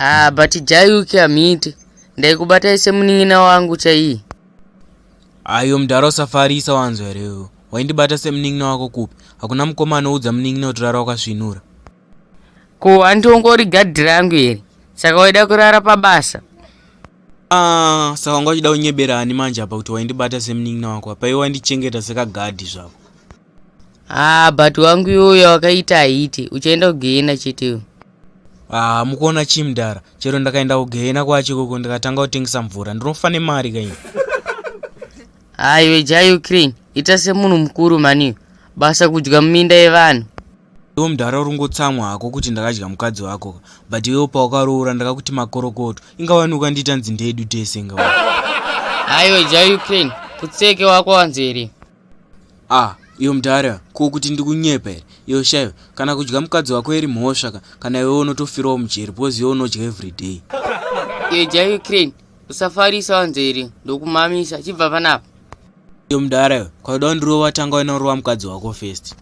Ah, but jayuki hamiti ndaikubatai semunin'ina wangu chaiyi ayo mdhara usafarisa wanzwa here waindibata semunin'ina wako kupi hakuna mukoma anoudza munin'ina kuti rara wakasvinura Ko hanti ungori gadhi rangu here saka waida kurara pabasa? Ah, saka wanga uchida kunyebera ani manje apa kuti waindibata semunin'ina wako apa iwe wandichengeta sekagadhi zvako. Ah, but wangu iwoyo wakaita haiti uchaenda kugehena cheteyo. Ah, mukuona chii mdara chero ndakaenda kugehena kwacho ikoko ndikatanga kutengesa mvura ndinofa nemari kaini. Aiwe ja Ukraine ita semunhu mukuru mani basa kudya muminda yevanhu. Iwe mdhara urungotsamwa hako kuti ndakadya mukadzi wako ka but iwewo pawakaroora ndakakuti makorokoto ingawanuka ndiita nzi ndeedu tese inga haiwe ja ukraine kutseke wako wanzi here ah iyo mdhara ko kuti ndikunyepa here iyo shaiwe kana kudya mukadzi wako iri mhosva ka kana iwewo unotofirawo mujeri because iwe unodya everyday iyo ja ukraine usafarisa wanzi here ndokumamisa chibva panapa Iyo mdara iyo kwauda kundirova tanga unorova mukadzi wako first.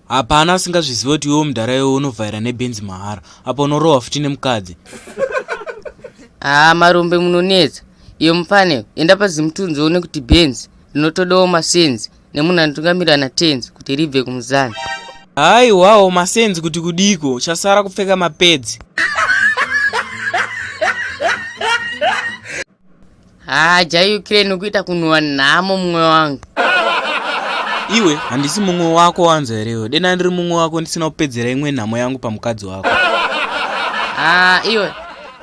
Hapana asingazvizive kuti iwo mdara iyo unovhaira nebenzi mahara apo unorova futi nemukadzi. Haa ah, marombe munonetsa. Iyo mupane enda pazimutunzi uone kuti benzi rinotodawo masenzi nemunhu anotungamirira natenzi kuti ribve kumuzana hayi wawo masenzi kuti kudiko chasara kupfeka mapedzi haa jai ukraine ukuita kunhuwa nhamo mumwe wangu iwe handisi mumwe wako wanza herewe dena ndiri mumwe wako ndisina kupedzera imwe nhamo yangu pamukadzi wako haa iwe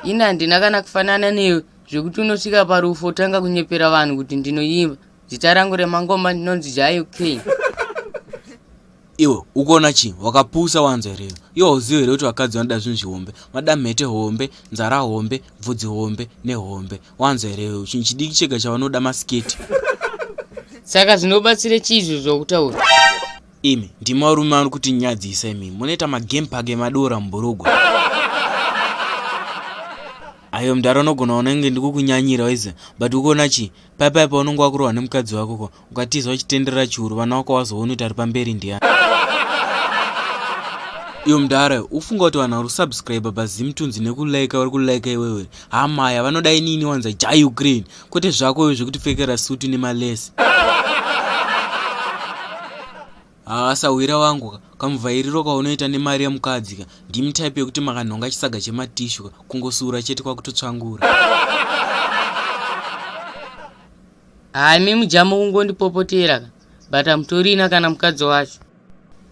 ini handina kana kufanana newe zvekuti unosvika parufo otanga kunyepera vanhu kuti ndinoimba Zita rangu remangoma ndinonzi Jayu King. iwe ukuona chii wakapusa wanzwa here iwe hauzivi here kuti vakadzi vanoda zvinhu zvihombe vanoda mhete hombe nzara hombe bvudzi hombe nehombe wanzwa here iwe chinhu chidiki chega chavanoda masiketi saka zvinobatsire chii izvo zvokutaura imi ndimi varume vano kuti nyadzisa imi munoita magame park emadora muburugwa ayo mdara unogona unenge ndikukunyanyira waize but ukuona chii Paya paya paunonge wakurohwa nemukadzi wako ko ukatiza uchitenderera chiuru vana wako wazoona kuti ari pamberi ndiani. Iyo mdara ufunga kuti vanhu vari kusubscribe paZimtunzi nekulike vari kulike iwewe hamaya vanoda inini wanza ja Ukraine kwete zvako iwe zvekutipfekera sutu nemalesi. haa sahwira wangu ka kamuvhairiro kaunoita nemari yemukadzi ka ndimi type yekuti makanhonga chisaga chematishu ka kungosura chete kwakutotsvangura haa imi mujamu kungondipopotera ka but hamutorina kana mukadzi wacho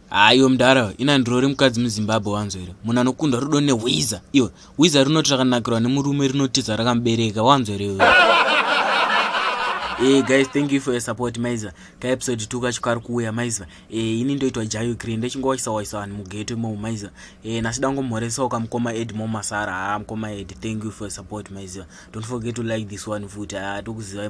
haa iwe mudara ina ndirori mukadzi muzimbabwe wanzo here munhu anokundwa rudo nehwiza iwe hwiza rinoti rakanakirwa nemurume rinotiza rakamubereka wanzo here iwe hey guys thank you for your support maiza kaepisode 2 kacho kari kuuya maiziva e, eh, ini ndoitwa jayo green ndochingowaisa waisa vanhu mugeto imomo maiziva e, eh, nasi dangomhoresawo ka mukoma ed momasara haa mukoma ed thank you for support maiziva don't forget to like this one futi haa tokuzivai